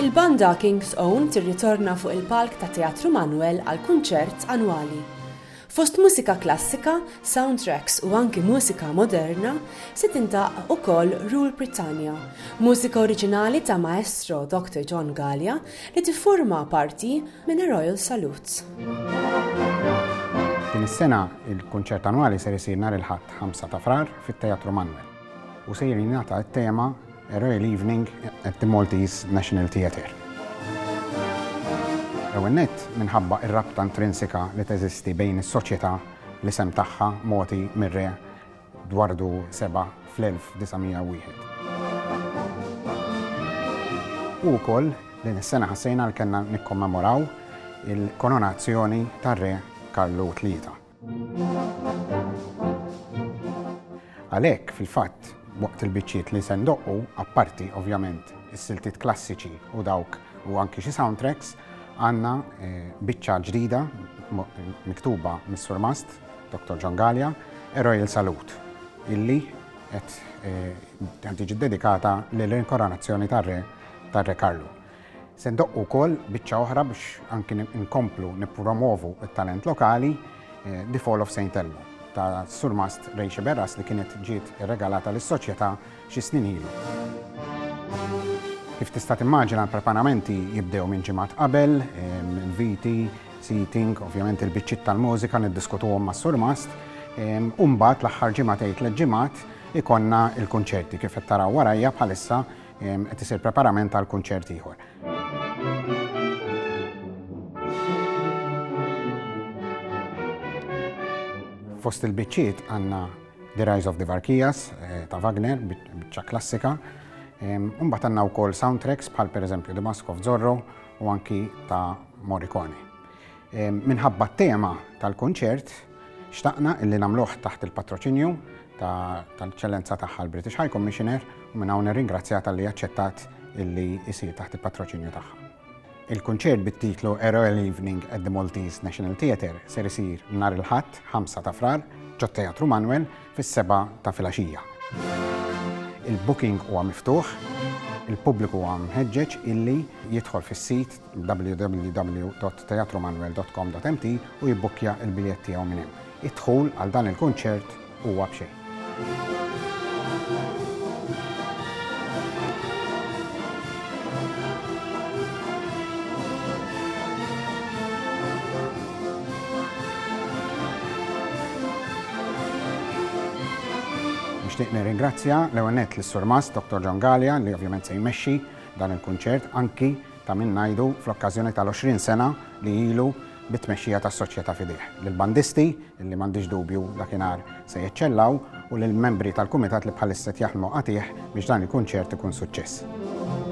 Il-banda King's Own tirritorna fuq il-palk ta' Teatru Manwel għal kunċert annwali. Fost mużika klassika, soundtracks u anki mużika moderna se tintaq ukoll Rule Britannia, mużika oriġinali ta' Maestro Dr. John Gallia li tifforma parti minn Royal Salutes. Din is-sena il-kunċert annwali ser isir nhar il-Ħadd 5 ta' Frar fit-Teatru Manwel. u ser jingħata t-tema Royal Evening at the Maltese National Theatre. L-ewwel nett, minħabba r-rabta intrinsika li teżisti bejn is-soċjetà, l-isem tagħha mogħti mir-Re Dwardu Seba' fl-1901. U wkoll din is-sena ħassejna li kellna nikkommemoraw il-koronazzjoni tar-Re Karlu Tlieta. Għalhekk, fil-fatt, waqt il-biċċiet li se ndoqqu, apparti, ovvjament, is-siltiet klassiċi u dawk u anki xi soundtracks, għandna biċċa ġdida miktuba mis-Surmast, Dottor John Galea, A Royal Salute, illi qed tiġi ddedikata lill-Inkoronazzjoni tar-Re tar-Re Karlu. Se ndoqqu wkoll biċċa oħra biex anki nkomplu nippromovu t-talent lokali, The Fall of Saint Elmo, ta' Surmast Rachel Berras li kienet ġiet irregalata lis-Soċjetà xi snin ilu. Kif tista' timmaġina l-preparamenti jibdew minn ġimgħat qabel, inviti, seating, ovvjament il-biċċiet tal-mużika niddiskutuhom mas-Surmast, u mbagħad l-aħħar ġimgħa tgħid tliet ġimgħat ikollna l-kunċerti kif qed taraw warajja bħalissa, qed isir preparament għal kunċert ieħor. Fost il-biċċiet għandna The Rise of the Varkijas eh, ta' Wagner, biċċa klassika. Umbat għanna u kol soundtracks bħal per eżempju The Mask of Zorro u anki ta' Morricone. Minħabba t-tema tal-kunċert, xtaqna illi nagħmluh taħt il-patroċinju tal-Eċċellenza tagħha l-British High Commissioner u minn hawn nirringrazzja talli aċċettat illi jsir taħt il-patroċinju tagħha. Il-kunċert bit-titlu A Royal Evening at the Maltese National Theatre ser isir nhar il-Ħadd 5 ta' Frar ġot-Teatru Manwel fis-seba' ta' filgħaxija. Il-booking huwa miftuħ, il-pubbliku huwa mħeġġeġ illi jidħol fis-sit www.teatrumanwel.com.mt u jibbukkja l-biljett tiegħu minn hemm. Id-dħul għal dan il-kunċert huwa b'xejn. Nixtieq nirringrazzja l-ewwel nett lis-Surmast Dottor John Galea li ovvjament se jmexxi dan il-kunċert anki Ta' min ngħidu, fl-okkażjoni tal-20 sena li ilu bit-tmexxija tas-Soċjetà f'idejh, lill-bandisti, li m'għandix dubju dakinhar se jeċċellaw, u lill-membri tal-kumitat li bħalissa qed jaħdmu qatigħ biex dan il-kunċert ikun suċċess.